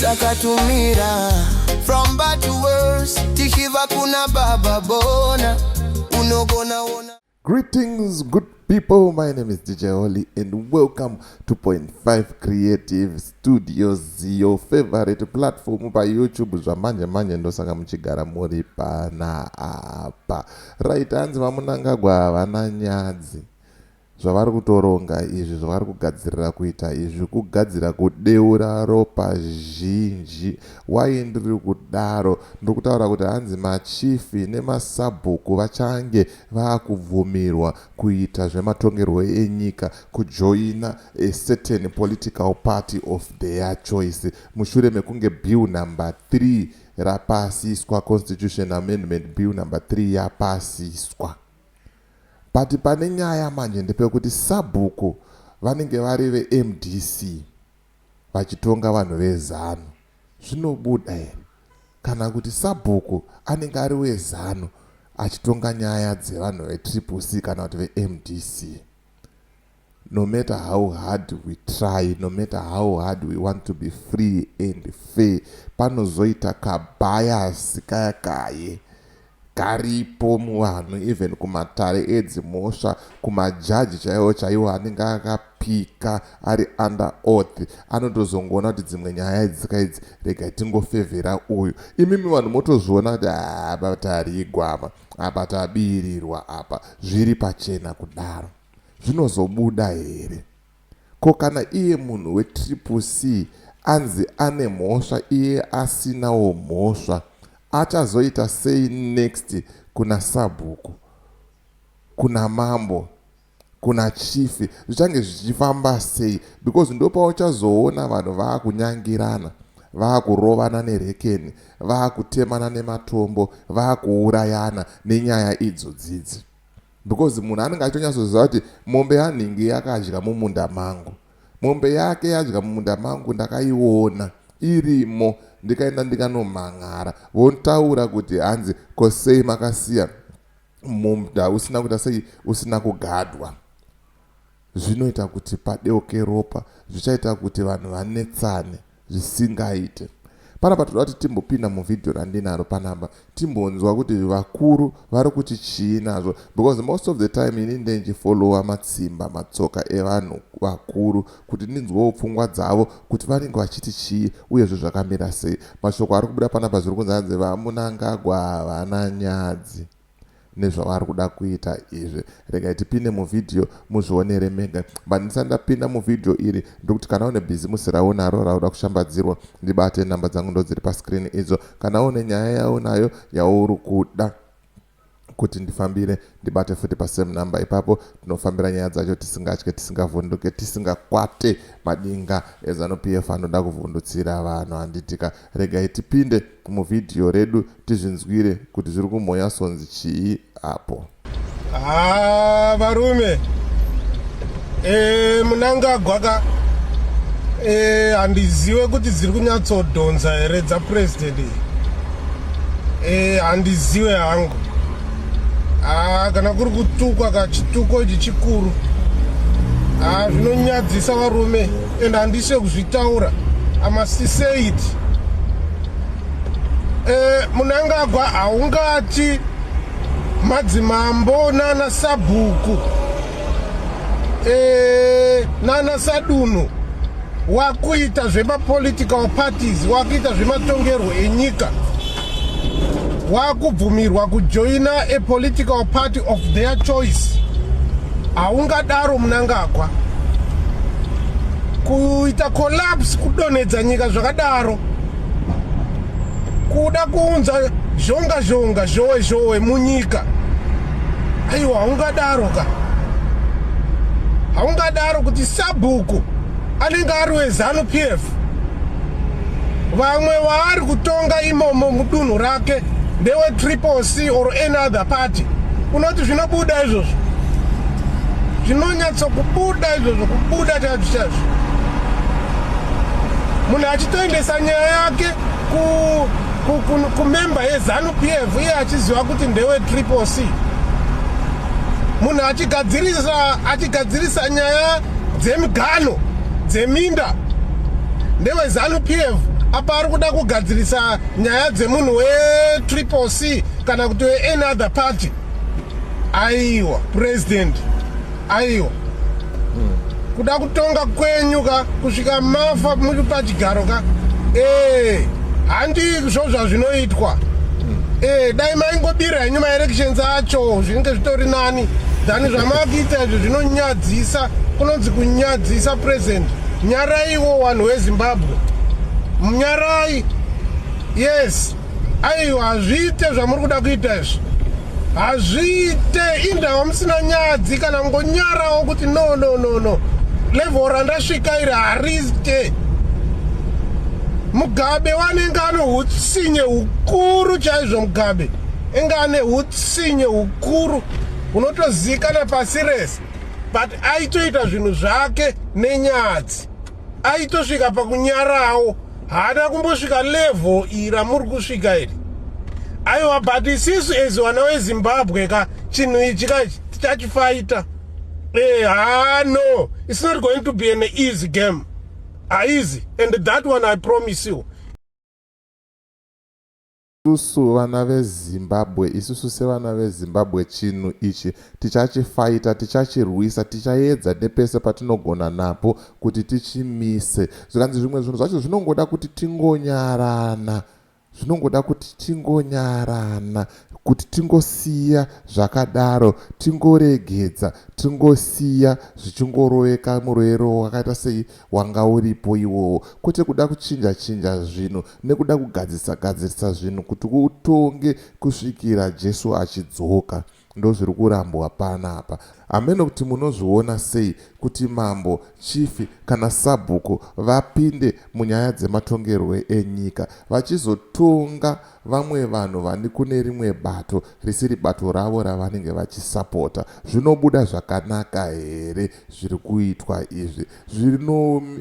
takatumira from bad to worse tichiva kuna baba bona unogona ona greetings good people my name is dj holly and welcome to point 5 creative studios your favorite platform payoutube zvamanje manje ndosaka muchigara muri pana apa right hanzi vamunangagwa havana nyadzi Zvavari kutoronga izvi zvavari kugadzirira kuita izvi kugadzira kudeura ropa zhinji why ndiri kudaro ndiri kutaura kuti hanzi machief nemasabhuku vachange vakubvumirwa kuita zvematongerwo enyika kujoina a certain political party of their choice mushure mekunge bill number 3 rapasiswa constitution amendment bill number 3 yapasiswa But pane nyaya manje ndepekuti sabhuku vanenge vari veMDC vachitonga vanhu veZanu zvinobuda here kana kuti sabhuku anenge ari weZanu achitonga nyaya dzevanhu veTriple C kana kuti veMDC. No matter how hard we try, no matter how hard we want to be free and fair, panozoita ka bias kaya kaye karipo muvanhu even kumatare edzimhosva, kumajaji chaiwo chaiwo anenge akapika ari under oath anotozongoona kuti dzimwe nyaya idzi ka idzi regai tingofevhera uyu. Imimi vanhu motozviona kuti apa tarigwama, apa tabirirwa apa, zviri pachena kudaro. zvinozobuda here. Ko kana iye munhu wetriple C anzi ane mhosva iye asinawo mhosva achazoita sei next kuna sabhuku, kuna mambo, kuna chifi zvichange zvichifamba sei because ndopauchazoona vanhu vaakunyangirana vaakurovana nerekeni vaakutemana nematombo vaakuurayana nenyaya idzo dzidzi. Because munhu anenge achitonyatsoziva kuti mombe yanhingi yakadya mumunda mangu. Mombe yake yadya mumunda mangu ndakaiona irimo ndikaenda ndikanomhan'ara votaura kuti hanzi ko sei makasiya mumda usina kuita sei usina kugadwa. Zvinoita kuti padeuke ropa zvichaita kuti vanhu vanetsane zvisingaite. Panapa toda kuti timbopinda muvhidhiyo randinaro panapa timbonzwa kuti vakuru vari kuti chii nazvo because most of the time ini ndendichifollowa matsimba matsoka evanhu vakuru kuti ndinzwewo pfungwa dzavo kuti vanenge vachiti chii uyezve zvakamira sei mashoko ari kubuda panapa zviri kunzi hanzi vamunangagwa havana nyadzi nezvavari kuda kuita izvi regai tipinde muvhidhiyo muzvionere mega but ndisati ndapinda muvhidhiyo iri ndokuti kana une bhizimusi raunaro rauda kushambadzirwa ndibate nhamba dzangu ndodziri paskrini idzo kana une nyaya yaunayo yauri kuda kuti ndifambire ndibate futi pasame number ipapo tinofambira nyaya dzacho tisingatye tisingavhunduke tisingakwate madinga ezanup f anoda kuvhundutsira vanhu handitika Regai tipinde mu video redu tizvinzwire kuti zviri kumhonya sonzi chii apo. Haa varume eh, munangagwa ka eh, handiziwe kuti dziri kunyatsodhonza here dzapresident iyi eh, handiziwe hangu haa ah, kana kuri kutukwa ka chituko ichi chikuru haa ah, zvinonyadzisa varume and handisi wekuzvitaura amasti say it eh, munangagwa haungati madzimambo nana sabhuku eh, nana sadunhu wakuita zvemapolitical parties wakuita zvematongerwo enyika wakubvumirwa kujoina a political party of their choice haungadaro munangagwa kuita collapse kudonhedza nyika zvakadaro kuda kuunza zhonga zhonga zhowe zhowe munyika aiwa haungadaro ka haungadaro kuti sabhuku anenge ari wezanu p f vamwe waari kutonga imomo mudunhu rake ndewe triple c or any other party unoti zvinobuda izvozvo zvinonyatso kubuda izvozvo kubuda chaizvo chaizvo munhu achitoendesa nyaya yake kumemba yezanu p f iye achiziva kuti ndewe triple c munhu achigadzirisa achigadzirisa nyaya dzemigano dzeminda ndewezanu pf apa ari kuda kugadzirisa nyaya dzemunhu wetriple c kana kuti weany other party aiwa president aiwa kuda kutonga kwenyu ka kusvika mafa muri pachigaro ka ee handi zvo zvazvinoitwa ee dai maingobira henyu maelections acho zvinenge zvitori nani than zvamakuita izvo zvinonyadza Dzisa kunonzi kunyadzisa president nyaraiwo wanhu wezimbabwe munyarai yes aiwa hazviite zvamuri kuda kuita izvi hazviite indawa musina nyadzi kana ngonyarawo kuti no no no no level randasvika iri hariite mugabe wanenge ane utsinye hukuru chaizvo mugabe enge ane utsinye hukuru unotoziikana pasi rese but aitoita zvinhu zvake nenyadzi aitosvika pakunyarawo haana kumbosvika level iri ramuri kusvika iri aiwa but isisu as vana wezimbabwe ka chinhu ichi ka tichachifaita eh, ha ah, no it's not going to be an easy game haizi and that one i promise you Isusu vana veZimbabwe, isusu sevana veZimbabwe chinhu ichi tichachifaita, tichachirwisa, tichaedza nepese patinogona napo kuti tichimise. Zvikanzi zvimwe zvinhu zvacho zvinongoda kuti tingonyarana, zvinongoda kuti tingonyarana, kuti tingosiya zvakadaro, tingoregedza, tingosiya zvichingoroveka muroero wakaita sei wanga uripo iwowo, kwete kuda kuchinja chinja zvinhu, nekuda kugadzirisa gadzirisa zvinhu kuti utonge kusvikira Jesu achidzoka ndozviri kurambwa panapa hameno kuti munozviona sei kuti mambo chifi kana sabhuku vapinde munyaya dzematongerwo enyika vachizotonga vamwe vanhu vani kune rimwe bato risiri bato ravo ravanenge vachisapota zvinobuda zvakanaka here zviri kuitwa izvi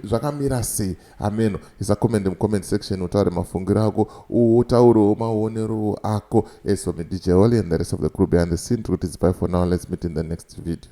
zvakamira sei hameno isa comment mucomment section utaure mafungiro ako utaurewo maonerowo ako as for me dj holy and the rest of the crew behind the scene tiri kuti zipai for now let's meet in the next video